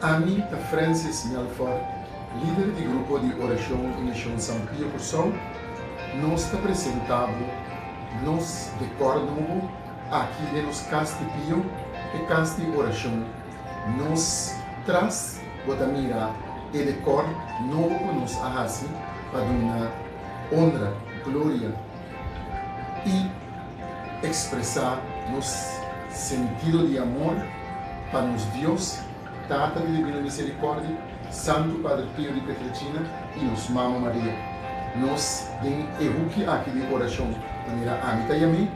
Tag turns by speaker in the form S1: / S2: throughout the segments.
S1: Ami ta Francis Melforte, lider di Grupo di Orashon di Mishon San Pio Kursou. Nos ta presenta bo nos dekor nobo aki den nos Kas di Pio, e Kas di Orashon. Nos tras bo ta mira e dekor nobo ku nos a hasi pa duna onra, gloria i ekspresá nos sentido di amor pa nos Dios, Tata di Dibino Miserikòrdia, Santu Padre Pio di Pietrelcina i nos Mama Maria. Nos den e huki aki di orashon ta mira ami ta yam'é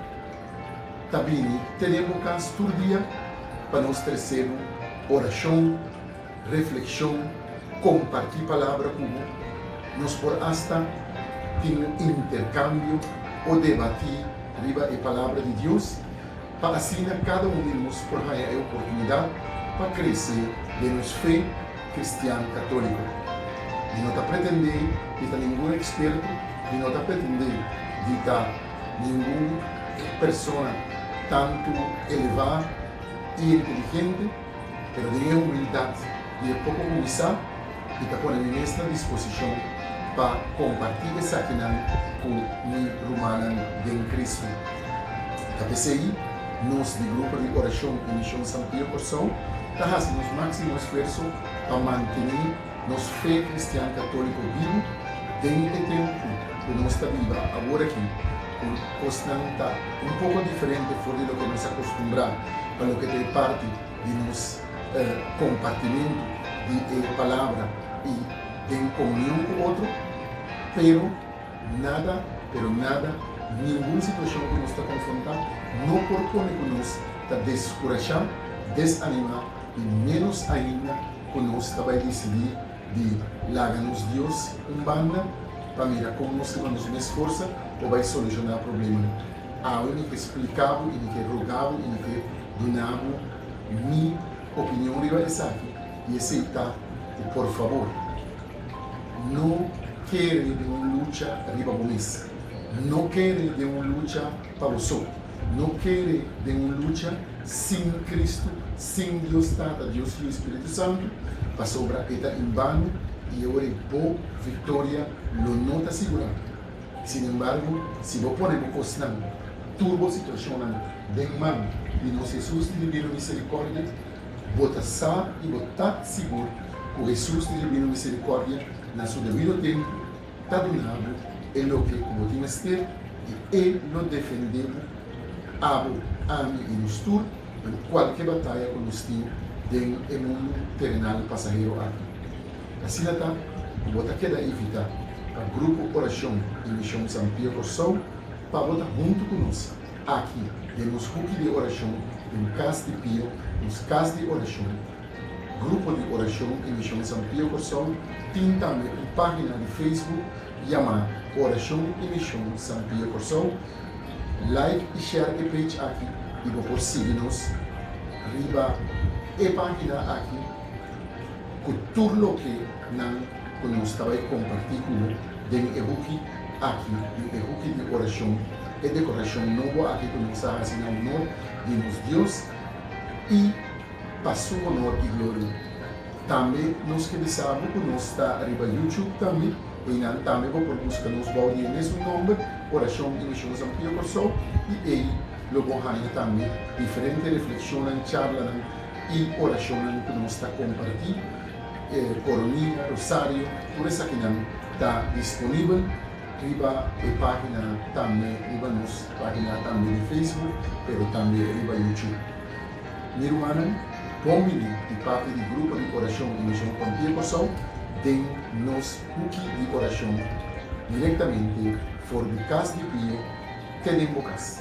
S1: ta bini te den bo kas tur dia pa nos trese bo orashon, reflexion, comparti palabra cu bo. Nos por hasta tin un intercambio o debati riba e Palabra di Dios pa asina cada un di nos por haya e oportunidad pa crece den nos fe cristian catolico. Mi no ta pretende di ta ningun experto, mi no ta pretende di ta ningun persona tanto eleva y inteligente. Pero den e humildat di e poko ku bisa, mi ta pone mi mes na disposishon pa kompartí esakinan ku mi rumannan den Kristu. I ta p'esei nos di Grupo di Orashon i Mishon San Pio Kòrsou ta hasi nos máksimo esfuerso pa mantené nos fe kristian katóliko bibu den e tempu ku nos ta biba aworakí. E kosnan ta un poko diferente for di loke nos a kostumbrá pa loke ta e parti di nos kompartimentu di e Palabra i den komunion ku otro. Pero nada, pero nada, ningun situashon ku nos ta konfrontá no por pone ku nos ta deskurashá, desanimá i ménos ainda ku nos ta bai disidí di laga nos Dios un banda pa mira con nos ta con nos mes forsa por bay soluciona problemanan. Awe mi ke splica bo y mi ke roga bo y mi ke duna bo mi opinion riba esaki y esey ta cu por favor no kere den un lucha riba bo mes, no kere den un lucha. pa boso. No kere den un lucha sin Cristo, sin Dios Tata, Dios Hijo y Spiritu Santo, pasobra e ta en bano y awor e bo victoria lo no ta sigurá. Sin embargo, si bo pone bo cosnan, tur bo situacionnan den man di nos Jesús di Divino Misericordia, bo ta sa y bo ta sigur cu Jesús di Divino Misericordia na su debido tempo, ta duna bo e loke ku bo tin mester i e lo defendé bo, abo, ami i nos tur, den kualke bataya ku nos tin den e mundu terenal pasahero aki. Asina ta ku bo ta keda invitá pa Grupo Orashon di Mishon San Pio Kòrsou pa bo ta huntu ku nos aki den nos huki di orashon den Kas di Pio, nos Kas di Orashon, Grupo di Orashon i Mishon San Pio Kòrsou tin tambe un página di Facebook yamá Orashon i Mishon San Pio Kòrsou. Like i share e page aki i bo por sigui nos riba e página aki ku tur loke nan ku nos ta bai kompartí ku bo den e huki aki den e huki di orashon, e dekorashon nobo aki ku nos a hasi na onor di nos Dios i. pa su onor y gloria. Tambe nos ke bisa bo ku nos ta riba YouTube tambe, einan tambe bo por buska nos bou di e mesmo nomber, Oracion y Mision San Pio Corsou, y ei lo bo haña tambe diferente refleccionnan, charlanan y oracionnan ku nos ta comparti, Coronilla, Rosario, tur esakinan ta disponibel riba e pagina tambe, riba nos pagina tambe di Facebook, pero tambe riba YouTube. Mi rumannan, bon bini di parti di Grupo di Orashon di Mision Kontié Kòrsou den nos huki di orashon direktamente for di kas di pie te den bo kas.